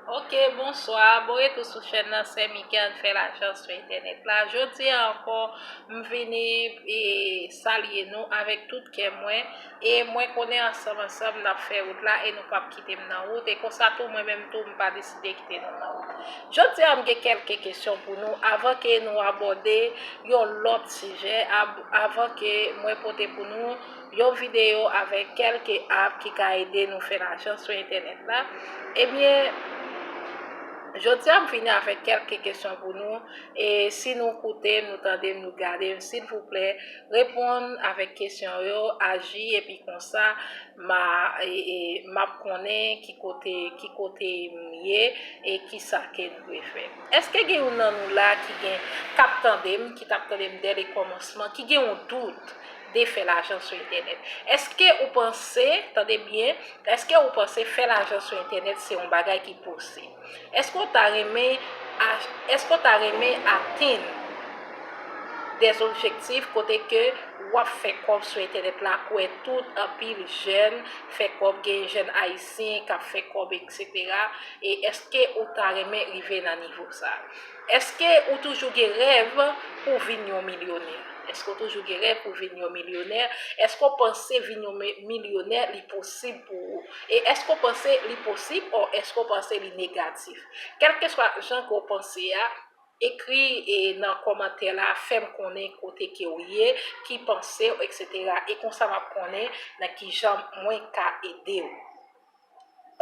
Ok bonswa bon retou sou chèn nan sè Mikel fè lajan sou entènèt la jodi an ankò m vini e salye nou avèk tout kè mwen e mwen konnen ansanm ansanm n ap fè wout la e nou p ap kite m nan wout e konsa tou mwen menm tou m pa deside kite nou nan wout jodi an m gen kèlke kesyon pou nou avan ke nou abòde yon lòt sijè avan ke mwen pote pou nou yon videyo avèk kèlke app ki ka ede nou fè lajan sou entènèt la, ebyen Jodi a m vini avèk kèlke kesyon pou nou e si nou koute m nou tande m nou gade m silvouplè reponn avèk kesyon yo aji epi konsa m a m ap konnen ki kote ki kote m ye e kisa ke m dwe fè. Eske gen youn nan nou la ki gen k ap tande m ki t ap tande m dè le kòmansman ki gen yon dout de fè lajan sou entènèt. Eske ou panse, tande byen, eske ou panse fè lajan sou entènèt se yon bagay ki posib? Eske ou ta renmen, eske ou ta renmen atenn des objectifs kote ke wap fè kòb sou entènèt la kouwè tout anpil jèn fè kòb, gen jèn ayisyen kap fè kòb etc. E eske ou ta renmen rive nan nivo sa? Eske ou toujou gen rèv pou vin yon milyonè? Eske ou toujou gen rèv pou vin yon milyonè? Eske ou panse vin yon milyonè li posib pou ou? E eske ou panse li posib o eske ou panse li negatif? Kèlkeswa jan ke w panse a, ekri e nan kòmantè la fè m konnen kote ke w ye, ki panse w eksetera. E konsa m ap konnen nan kijan mwen ka ede w.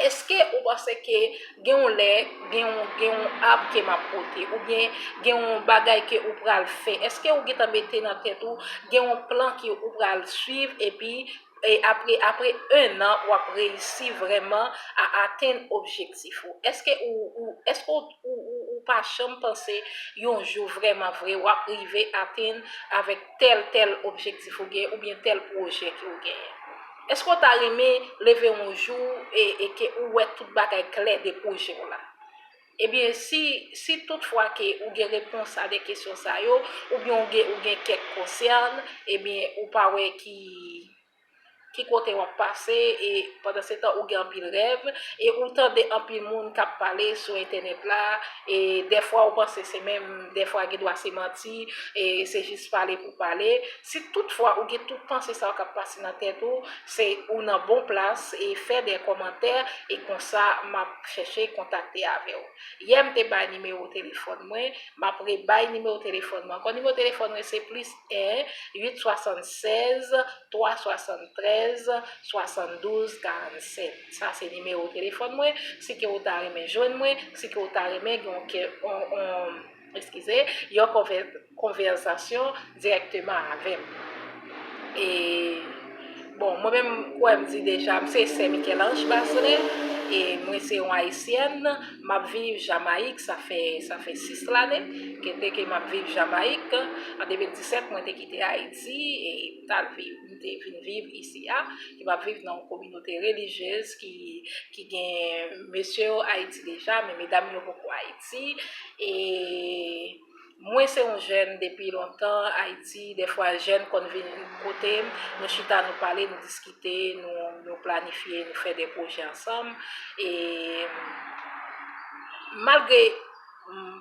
Eske ou panse ke gen yon lè, gen yon, gen yon arbre ke map pote, ou byen gen yon bagay ke ou pral fè, eske ou gentan mete nan tèt ou, gen yon plan ke ou pral swiv, epi e apre, apre 1 an wap reyisi vrèman a atenn objektif ou? Eske ou, ou, eske ou, ou, ou, ou pa janm panse yon jou vrèman vre wap rive atenn avèk tèl, tèl objektif ou gen, ou byen tèl projè ke ou genyen? Eske w ta renmen leve yon jou e ke ou wè tout bagay klè de pwojè w la? Ebyen, si tout fwa ke ou gen repons a de kesyon sa yo, oubyen ou gen kèk konsèn, ebyen ou pa wè ki kote w ap pase, e pandansetan ou gen anpil rèv, e ou tande anpil moun k ap pale sou entènèt la, E dèfwa ou panse se menm dèfwa gen dwa se manti, e se jis pale pou pale. Si tout fwa ou gen tout panse sa yo k ap pase nan tèt ou, se ou nan bon plas e fè de kòmantè e konsa m ap chèche kontakte avè w. Yè m te bay nimewo telefòn mwen, m ap rebay nimewo telefòn mwen ankò. Nimewo telefòn mwen se plis 1 8 76 3 73 72 47. Sa se nimewo telefòn mwen, si ke ou ta renmen jwenn mwen, si ke ou ta renmen gen yon kè, yon, eskize, yon konvè, konvèsasyon dirèkteman avè m. E, bon, mwen menm, kwè m di deja, m se sè Michel-Ange Bazelais, e mwen se yon Ayisyèn, m ap viv Jamayik, sa fè, sa fè 6 lane, ke te ke m ap viv Jamayik, an 2017 mwen te kite Ayiti, e m t al viv. te vin viv isi a, ki pa viv nan yon kominote relijyez ki gen mesye yo Ayiti deja, men medam yo poko Ayiti, e mwen se yon jèn depi lontan Ayiti, defwa jèn konn vin kote m, nou chita nou pale, nou diskite, nou planifye, nou fè de pwojè ansanm, e malgre m.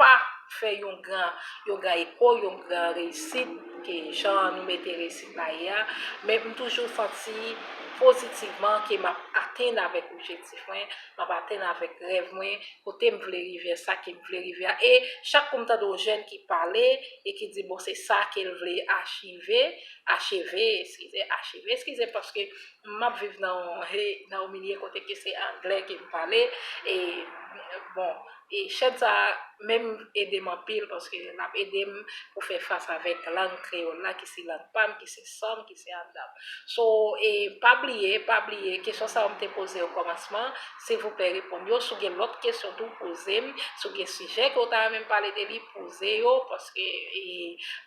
pa fè yon gran yon gran eko, yon gran reyisit ke jan nou mete reyisit la ye a, men m toujou santi pozitivman ke m ap atenn avèk objektif mwen, m ap atenn avèk rèv mwen, kote m vle rive a, sa ke m vle rive a. E chak kou m tande yon jèn ki pale e ki di bon se sa ke l vle achive, acheve, eskize, acheve, eskize paske m ap viv nan yon he nan yon milye kote ke se angle ke m pale e bon E chèn sa menm ede m anpil paske l ap ede m pou fè fas avèk lang kreyòl la ki se lang pa m, ki se san m, ki se anndan m. So, e pa bliye, pa bliye, kesyon sa yo m te poze okòmansman an, silvouplè reponn yo. Si w gen lòt kesyon tou, poze m. Si w gen sijè ke w ta renmen m pale de li, poze yo paske e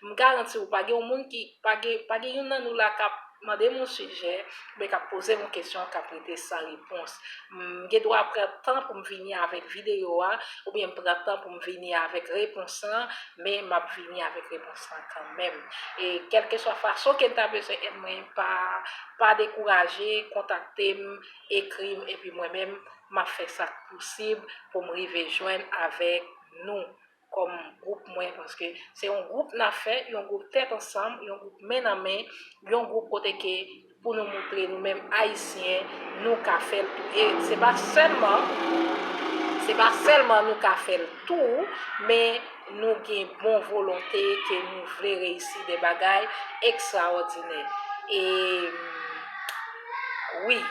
m garanti w pa gen yon moun ki. Pa gen pa gen youn nan nou la kap mande m yon sijè oubyen kap poze m yon kesyon kap rete san repons. M gen dwa pran tan pou m vini avèk videyo a oubyen m pran tan pou m vini avèk repons lan, men map vini avèk repons lan kanmenm. E kèlkeswa fason ke n ta bezwen èd mwen pa pa dekouraje kontakte m, ekri m epi mwen menm map fè sa k posib pou m rive jwenn avèk nou. kòm gwoup mwen paske se yon gwoup n ap fè, yon gwoup tèt ansanm, yon gwoup men nan men, yon gwoup kote ke pou nou moutre nou menm Ayisyen nou ka fè l tou. E se pa sèlman, se pa sèlman nou ka fè l tou, men nou gen bon volonte ke nou vle reyisi de bagay ekstraòdinè. E. Wi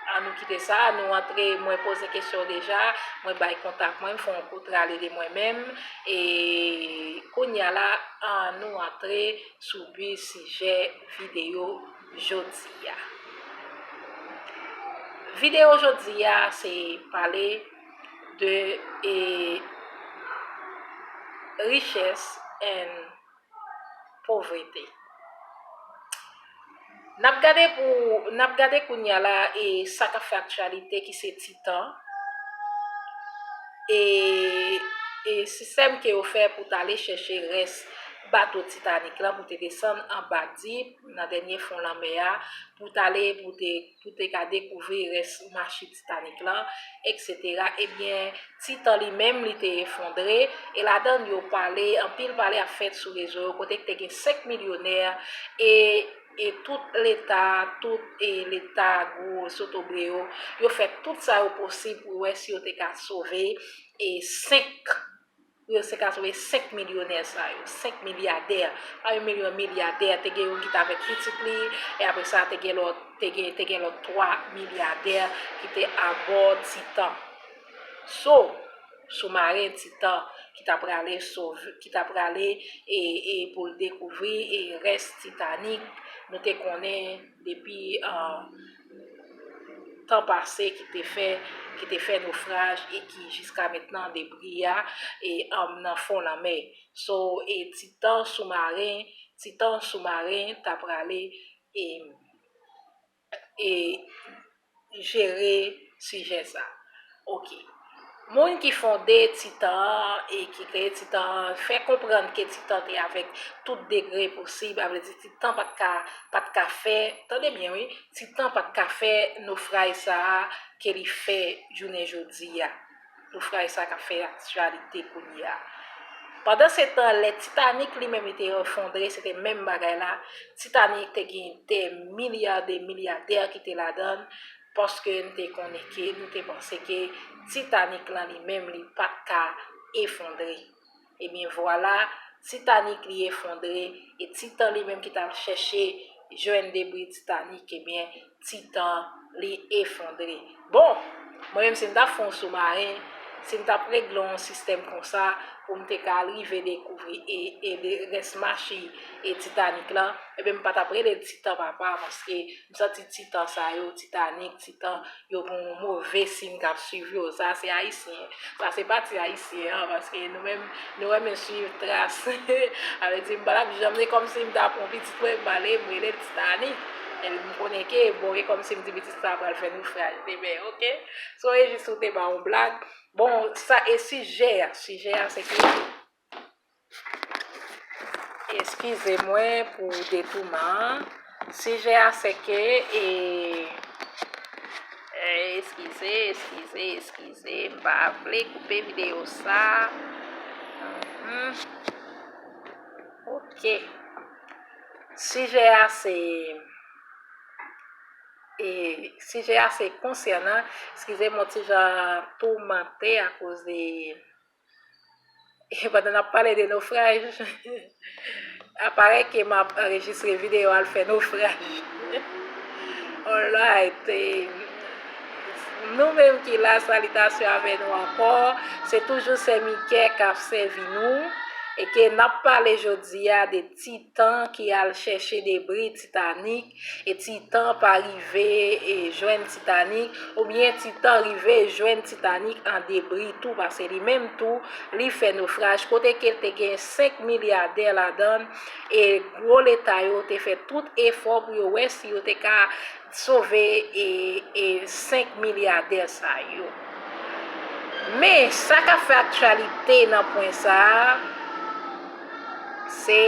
an nou kite sa nou antre mwen poze kesyon deja mwen bay kontak mwen fon yon kout rale de mwen menm e kounya la an nou antre sou bi sijè videyo jodia videyo jodia se pale de e richès en Povrete. N ap gade pou n ap gade kounye a la e sa k ap fè aktyalite ki se Titan e e sistèm ke yo fè pou t ale chèche rès bato Titanik la pou te desann anba dip nan dènye fon lanmè a pou t ale pou te pou te ka dekouvri rès machit Titanik la, eksetera, ebyen Titan li menm li te efondre, e ladan l yo pale, anpil pale ap fèt sou rezo yo kote k te gen 5 milyonè, e e tout leta, tout e leta gwo zotobre yo, yo fè tout sa yo posib pou wè si yo te ka sove e 5. Pou yo se ka sove 5 milyonè sa yo, 5 milyadè. Pami mil yo milyadè, te gen youn ki t avèk pitit li, e apre sa te gen lòt, te gen, te gen lòt 3 milyadè ki te abò Titan. So, soumaren Titan ki ta prale sov, ki ta prale e, e pou l dekouvri e rès Titanik nou te konnen depi, a. tan pase ki te fè ki te fè nofraj e ki jiska mentnan debri a e nan fon lanmè so e titan sou maren titan sou maren ta prale e e jere sijè sa. Ok. Moun ki fonde Titan an e ki kreye Titan an fè konprann ke Titan te avèk tout degre posib, a vle di Titan pa t ka, pa t ka fè, tande byen wi, Titan pa t ka fè nofraj sa a ke li fè jounen jodi a, nofraj sa a k ap fè aktyalite kounye a. Pandansetan, lè Titanik li menm li te efondre, se te menm bagay la, Titanik te gen dè milya de milyadè ki te ladan l, Paske n te konnen ke, nou te panse ke Titanic lan li menm li pa t ka efondre. Ebyen vwala, Titanic li efondre, e Titan li menm ki t al chèche jwenn debri Titanic, ebyen Titan li efondre. Bon! Mwen menm si m t ap fè yon soumaren, si m t ap regle yon sistèm konsa pou m te ka rive dekouvri e rès machi Titanic lan, ebyen m pa t ap rele l Titan papa paske M santi titan sa yo, titanik, titan, yo gen yon move siy k ap swiv yo. Sa se Ayisyen. Sa se pati Ayisyen an, paske nou menm, nou renmen swiv tras. Sa vle di m pa t ap janm, se kòmsi m t ap yon pitit mwen m ale m rele l Titanik. Epi m konnen ke, bon, e kòmsi m di pitit sa pral fè nofraj demen, ok. Sou rejis ou te ba yon blag. Bon, sa e sijè a? Sijè a se ke. Eskize mwen pou detouman an. Sijè a se ke e Eskize, eskize, eskize. M pa vle koupe videyo sa. Ok. Sijè a se e Sijè a se konsènan, eskize m yon ti jan toumante akoz de Pandan nap pale de nofraj, aparèy ke map anrejistre videyo al fè nofraj. Alright, nou menm ki la salitasyon avè nou ankò, se toujou sè Mikè kap sèvi nou e ke nap pale jodi a de titan ki al chèche debri titanik. E Titan pa rive jwenn Titanik, oubyen Titan rive jwenn Titanik an debri tou pase li menm tou li fè nofraj kote ke te gen 5 milyadè ladann e gwo leta yo te fè tout efò pou yo wè si yo te ka sove 5 milyadè sa yo. Men, sa k ap fè aktyalite nan pwen sa a. Se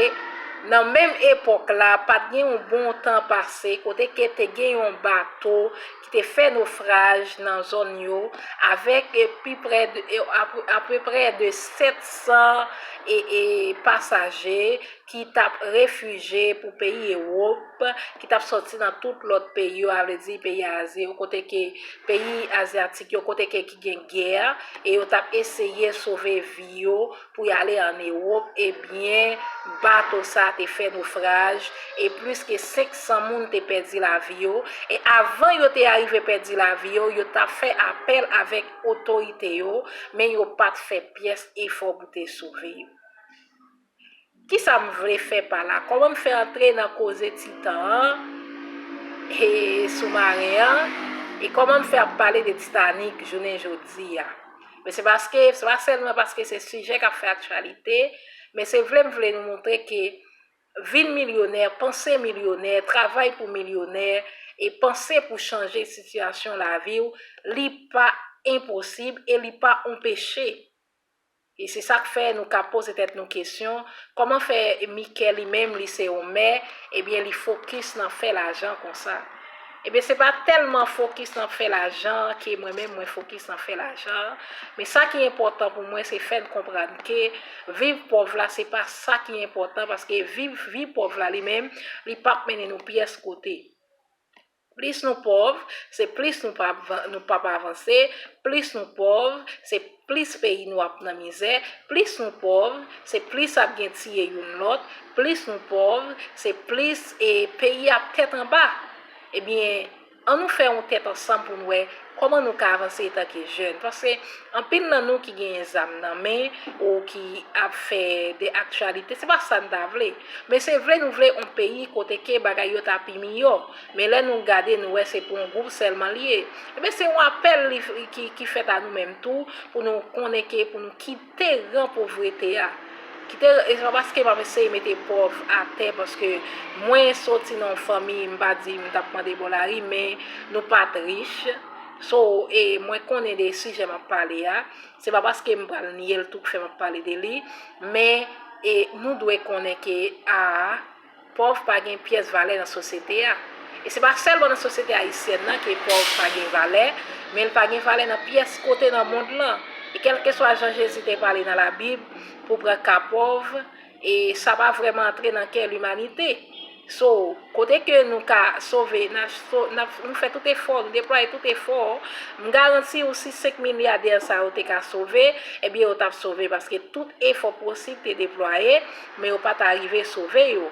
Nan menm epòk la, pa t gen yon bon tan pase kote ke te gen yon bato ki te fè nofraj nan zòn yo avèk pi prè apeprè de 700 pasaje ki t ap refije pou peyi Ewop, ki t ap sòti nan tout lòt peyi yo, a vle di peyi Azi yo, kote ke peyi azyatik yo, kote ke ki gen gè e yo t ap eseye sove vi yo. pou y ale an Ewop, ebyen bato sa te fè nofraj e plis ke 500 moun te pèdi lavi yo, e avan yo te arive pèdi lavi yo, yo t ap fè apèl avèk otorite yo, men yo pa t fè pyès efò pou te sove yo. Kisa m vle fè pa la? Kòman m fè antre nan koze Titan an e soumaren an? E kòman m fè ap pale de Titanik jounen jodi a? Men se paske, se pa sèlman paske se sijè k ap fè aktyalite, men se vle m vle nou montre ke vin milyonè, panse milyonè, travay pou milyonè e panse pou chanje sitiyasyon lavi w, li pa enposib e li pa on peche. E se sa k fè nou ka poze tèt nou kesyon, kòman fè Mike li menm li se yon mè, ebyen li fokis nan fè lajan konsa? Ebyen se pa tèlman fokis nan fè lajan an ke mwen menm mwen fokis nan fè lajan an, men sa ki enpòtan pou mwen se fè n konprann ke viv pòv la se pa sa ki enpòtan paske viv vi pòv la li menm li pap mennen nou pyès kote. Plis nou pòv, se plis nou pa nou p ap avanse, plis nou pòv, se plis peyi nou ap nan mizè, plis nou pòv, se plis ap gen tiye youn lòt, plis nou pòv, se plis e peyi ap tèt anba. Ebyen, an nou fè yon tèt ansanm pou n wè Kòman nou ka avanse etanke jèn? Paske anpil nan nou ki genyen zam nan men, ou ki ap fè de aktyalite, se pa sa n ta vle. Men se vle nou vle on peyi kote ke bagay yo ta pi miyò. Men lè nou gade nou wè se pou on gwoup sèlman li ye. Enben se on apèl ki fèt a nou menm tou pou nou konnen ke pou nou kite. te ran povrete a ki te e se pa paske m ap eseye mete pòv atè paske mwen soti nan yon fanmi m pa di m t ap mande bò lari men nou pa t rich so e mwen konnen de sijè m ap pale a se pa paske m pral nye l tou k fè m ap pale de li men e nou dwe konnen ke a Pòv pa gen pyès valè nan sosyete a. E se pa sèlman nan sosyete ayisyèn nan ke pòv pa gen valè, men l pa gen valè nan pyès kote nan mond lan. E kèlkeswa jan Jezi te pale nan Labib pou pran ka pòv, e sa pa vrèman antre nan kè limanite. So, kote ke nou ka sove, n ap so, n ap, nou fè tout efò, nou deplwaye tout efò, m garanti ou si senk milyadè sa yo te ka sove, ebyen yo t ap sove paske tout efò posib te deplwaye, Men yo pa ta rive sove yo.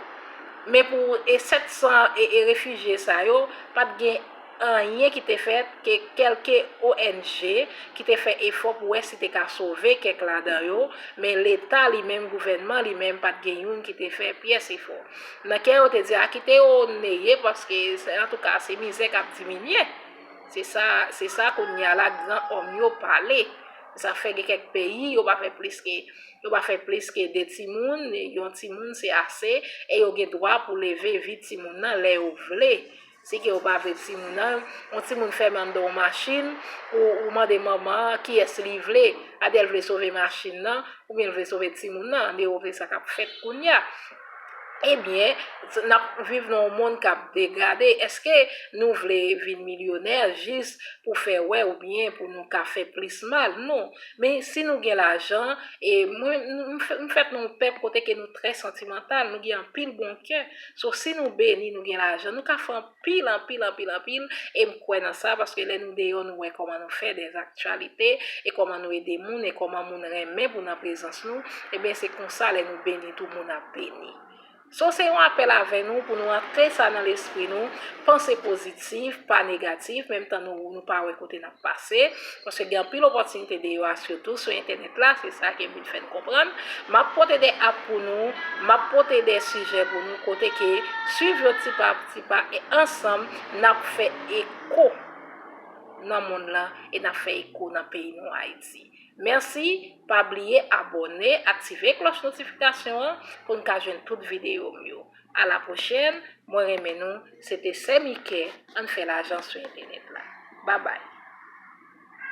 Men pou e 700 e e refijye sa yo, pa t gen anyen ki te fèt ke kèlke ONG ki te fè efò pou wè si te ka sove kèk ladan yo, men leta li menm, gouvènman li menm pa t gen youn ki te fè pyès efò. Nan kè yo te di a kite yo neye paske antouka se mizè k ap diminye. Se sa se sa kounye a la gran òm yo pale. Zafè gen kèk peyi yo pa fè plis ke. Yo pa fè plis ke 2 timoun, yon timoun se ase, e yo gen dwa pou leve vi timoun nan lè yo vle. Si ke yo pa vle timoun nan, yon timoun fèmen anndan yon machin, ou mande manman an kiyès li vle, ade l vle sove machin nan, oubyen l vle sove timoun nan, ande yo vle sa k ap fèt kounye a. Ebyen, n ap viv nan yon monn k ap degrade, èske nou vle vin milyonè jis pou fè wè oubyen pou nou ka fè plis mal? Non. Men si nou gen lajan, e mwen m fèt nan yon pèp kote ke nou trè santimantal, nou gen anpil bon kè. So si nou beni, nou gen lajan, nou ka fè anpil, anpil, anpil, anpil, e m kwè nan sa paske lè nou deyò nou wè kòman nou fè dè aktyalite, e kòman nou ede moun, e kòman moun renmen pou nan prezans nou, eben se konsa lè nou beni tou moun ap beni. So se yon apèl avè nou pou nou antre sa nan lespri nou, panse pozitif, pa negatif, menm tan nou nou pa wè kote n ap pase, paske gen anpil opòtinite deyò a sitou sou entènèt la, se sa ke vin fè n konprann, m ap pote 2 app pou nou, m ap pote 2 sijè pou nou kote ke swiv yo ti pa ti pa e ansanm n ap fè eko nan monn lan e n ap fè eko nan peyi nou Ayiti. Merci, pa bliye abòne aktive klòch notifikasyon an pou n ka jwenn tout videyo m yo. A la pwochèn, mwen renmen nou, se te sè Mike, ann fè lajan sou entènèt la. Babay.